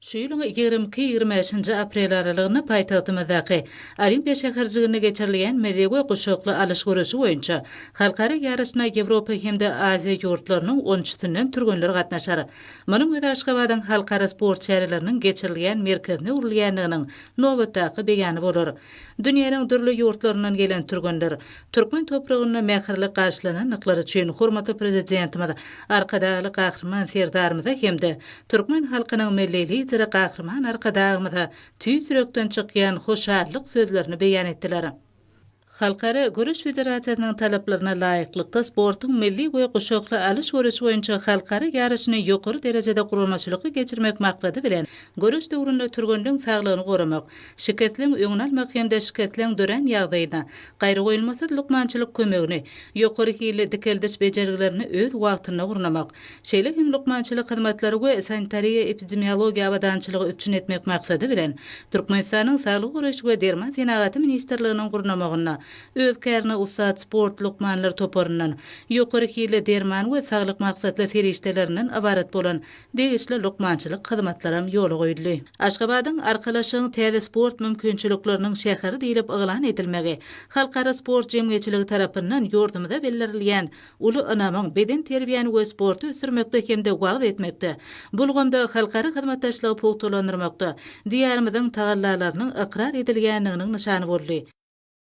Şu ýylyň ýigrimi iki, ýigrimi bäşinji aprel aralygynda paýtagtymyzdaky Olimpiýa şäherjiginde geçirilýän milli we guşakly alyş göreşi boýunça halkara ýaryşyna Ýewropa hem-de Aziýa ýurtlarynyň on üçüsinden türgenler gatnaşar. Munuň özi Aşgabadyň halkara sport çäreleriniň geçirilýän merkezine öwrülýändiginiň nobatdaky beýany bolar. Dünýäniň dürli ýurtlaryndan gelen türgenler Türkmen topragynda mähirli garşylanandyklary üçin hormatly Prezidentimiz, Arkadagly Gahryman Serdarymyza hem-de türkmen halkynyň Milli Lideri Gahryman Arkadagymyza tüýs ýürekden çykýan hoşallyk sözlerini beýan etdiler. Halkara Göreş federasiýasynyň talaplaryna laýyklykda sportuň milli we guşakly alyş göreşi boýunça halkara ýaryşyny ýokary derejede guramaçylykly geçirmek maksady bilen, göreş döwründe türgenleň saglygyny goramak, şikesleň öňüni almak hem-de şikesleň dörän ýagdaýynda gaýragoýulmasyz lukmançylyk kömegini, ýokary hilli dikeldiş bejergilerini öz wagtynda gurnamak, şeýle hem lukmançylyk hyzmatlary we sanitariýa-epidemiologiýa abadançylygy üpjün etmek maksady bilen, Türkmenistanyň Saglygy goraýyş we derman senagaty ministrliginiň gurnamagynda öz kärine ussat sport lukmanlar toparyndan, ýokary hilli derman we saglyk maksatly serişdelerinden ybarat bolan degişli lukmançylyk hyzmatlaram ýola goýuldy. Aşgabadyň Arkalaşygyň täze sport mümkinçilikleriniň şäheri diýlip yglan edilmegi, halkara sport jemgyýetçiligi tarapyndan ýurdumyza bildirilýän uly ynamyň bedenterbiýäni we sporty ösdürmekde hem-de wagyz etmekde, bu ulgamda halkara hyzmatdaşlygy pugtalandyrmakda Diýarymyzyň tagallalarynyň ykrar edilýändiginiň nyşany boldy.